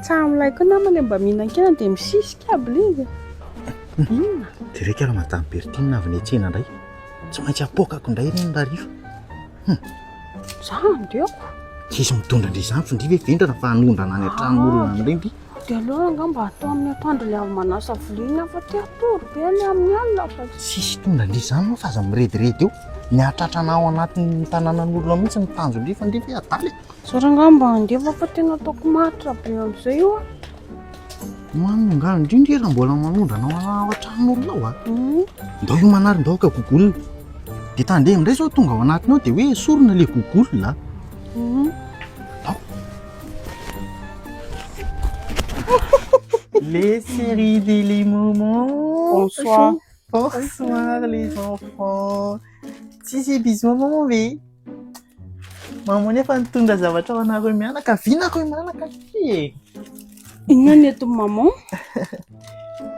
Tsaho milay koa nama le mba mihinan-kena dia misisika aby le izy. Inona? Jereka ary madame Bertine avy niantsena indray. Tsy maintsy apoakako indray ireny raha rifa. Hum. Za andeoko. Tsisy mitondra indray izany findry ve vendrana fa hanondrana any an-tranon'olona any indray ndry. Dia aleo anga mba atao amin'ny atoandro ilay avy manasa vilia fa te hatory be any amin'ny alina fa Tsisy hitondra indry izany moa fa aza mirediredy eo. Mihatratra anao anatin'ny tanànan'olona mihitsy ny tanjondry findry ve adala e. Za rangah mba handefa fa tena ataoko maritra be amin'izay io a. Mamy ngano indrindra iha raha mbola manondrana ao an-tranon'olona ao a. Mhm. Ndao hiomana ary ndao ka gogol. Dia tandremo indray izao tonga ao anatiny ao dia hoe esorina ilay gogol a. Mhm. Ndao. Les séries des les moments. Bonsoir. Bonsoir les enfants. Si si bisous maman ve. Mamono efa nitondra zavatra ho anareo mianakaviana akory mianaka aty e. Inona ny eto maman?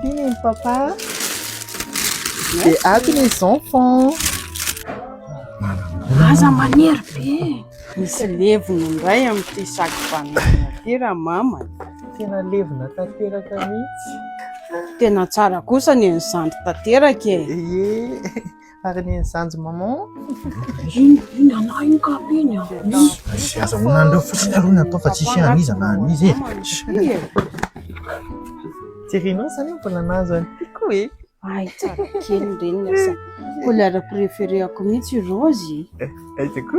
Iny ny papa. Dia ato ny enfants. Aza manery be. Misy levona indray amin'ity sac banane ity raha mama. Tena levona tanteraka mihitsy. Tena tsara kosa ny an'i zandry tanteraka e. Ye. Ary ny zanjy maman. Iny iny anah iny ka be ny azy. Aza ho anareo fotsiny aloha natao fa tsisy an'iza na an'iza e. Tirinao zany mbola nahazo an'i Tiko e. Ay tsara kely reny sa. Couleur préféré-ako mihitsy rose. Ay Tiko.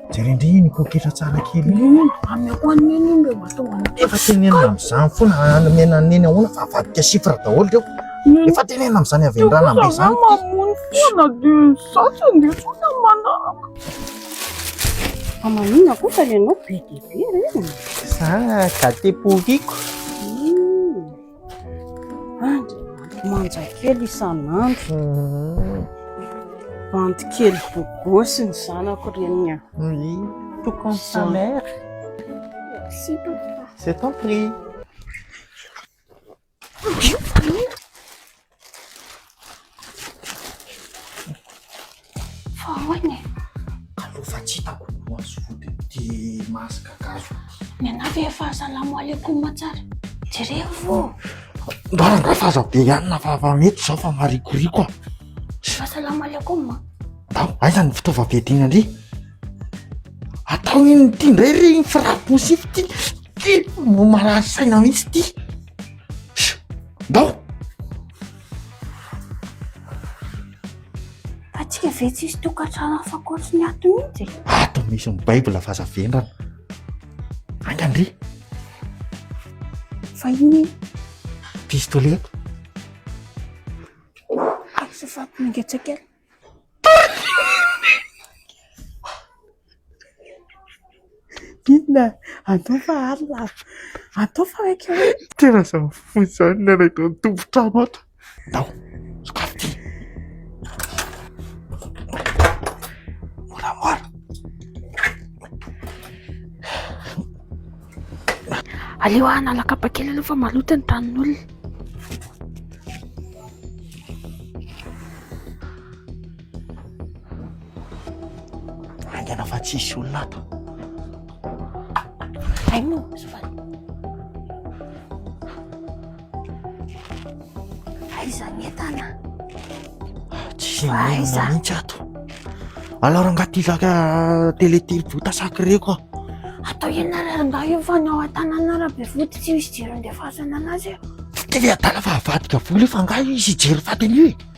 Jereo ndry iny poketra tsara kely iny. Io amin'ny ahoana ny eny iny mba tonga ny Efa tenenina amin'izany foana hanamena ny eny ahoana fa avadika chiffre daholo reo. Efa tenenina amin'izany avy hatrany Ranambe Za izany. mamono foana dia za tsy handeha intsony amin'ny manaraka. Aman'ina koa fa ianao be dia be re. Za gâté pourriko. Andriamanitro manjakely isan'andro. Bandy kely bogosy ny zanako reniny an. Oui, tout comme sa mère. Merci papa. C'est ton prix. Fahaoina e. Allo fa tsy hitako ny maso vodiny ty masque gasy ty. Mianavy e fa salamo alaikum tsara. Jereo vo. Mba nga fa aza be ihany na fa fa mety zao fa marikoriko a. Fa salamo alaikum. Ndao, aiza ny fitaovam-piadiana ndry? Atao inona ity ndray ry ny frappe poussif ty? Ty no marary saina mihitsy ty. Ndao! Atsika ve tsisy tokantrano hafa ankoatry ny ato mihitsy e? Ato misy ny Bible fa aza vendrana. Anga ndry! Fa iny Pistolet. aza fa mangetsakely. Inona? Andao fa alina a! Andao fa maika hoe. Tena izany fohy izany ny anay tao an-tompon-trano ato. Andao, sokafy ity. Moramora. Aleo ah hanala kapa kely aloha fa maloto ny tanin'olona. Angana fa tsisy olona ato. Aino, sofany. Aiza ny entana? Tsy mainona mihitsy ato. Alors angaha ty zaka télé telobota sakireko aho. Atao inona ary angaha io fa ny ao an-tanana rabe vody tsy misy jiro andefasana anazy eo. Tsy tena adala fa avadika vola io fa angaha izy hijery faty an'io e.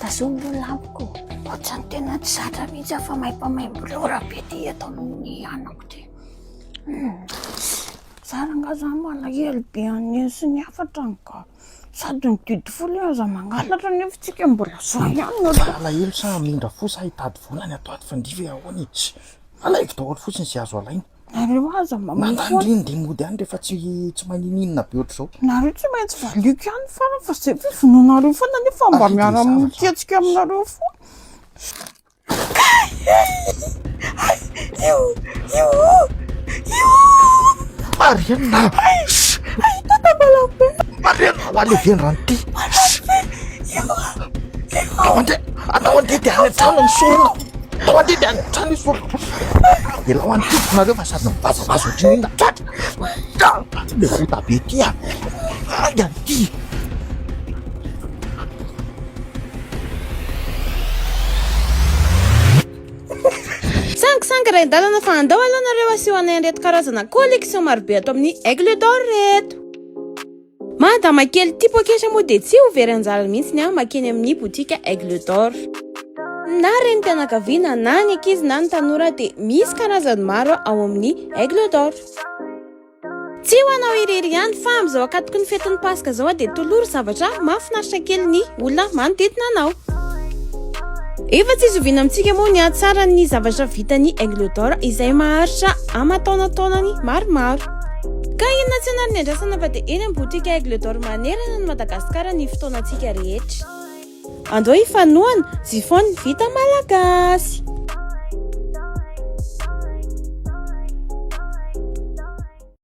Tazomy ireo lampiko. Ohatrany tena tsy zatra mihitsy aho fa maim-pamaim-bolora be ty eto amin'ny anako ty. Hmm. Zara nga zany malahelo be an'iny sy ny hafatra ny ka. Sady ny didy folo aza mangalatra nefa tsika mbola zao ihany no raha. Malahelo sa hamindra fo sa hitady vola any ato ato fa ndive ahoana e. Alaivo daholo fotsiny izay azo alaina. Nareo aza mba mifoha. Mandany ndry ny dimody ihany rehefa tsy tsy manininona be ohatr'izao. Nareo tsy maintsy valiako ihany farany fa zay ve vonoinareo foana nefa mba miara miketsika aminareo foana. Marianina Marianina ho any ve ny rano ty? Atao andeha atao andeha dia any an-trano misorona. Tao aty dia hatrany izy folo. Alao any tompoko nareo fa sady mivazavaza ohatry ny inona tratra. Aty le vota be ty a. Ay aty. Sangy sangy rain-dalana fa andao aloha nareo asio anay an'ireto karazana collection marobe ato amin'ny Aigle d'Or reto. Madama kely ity poketra moa dia tsy ho very anjara mihitsy ny ahy makeny amin'ny botika Aigle d'Or. Na renim-pianakaviana, na ny ankizy, na ny tanora dia misy karazany maro ao amin'ny Aigle d'Or. Tsy ho anao irery ihany fa amin'izao akatoky ny fetin'ny Paska izao dia tolory zavatra mahafinaritra kely ny olona manodidina anao. Efa tsy zoviana amintsika moa ny hatsaran'ny zavatra vitan'ny Aigle d'Or izay maharitra aman-taonantaonany maromaro. Ka inona tsy hanary ny andrasana fa dia eny amin'ny boutique Aigle d'or manerana an'i Madagasikara ny fotoanantsika rehetra. Andao hifanohana, Zifon ny vita malagasy.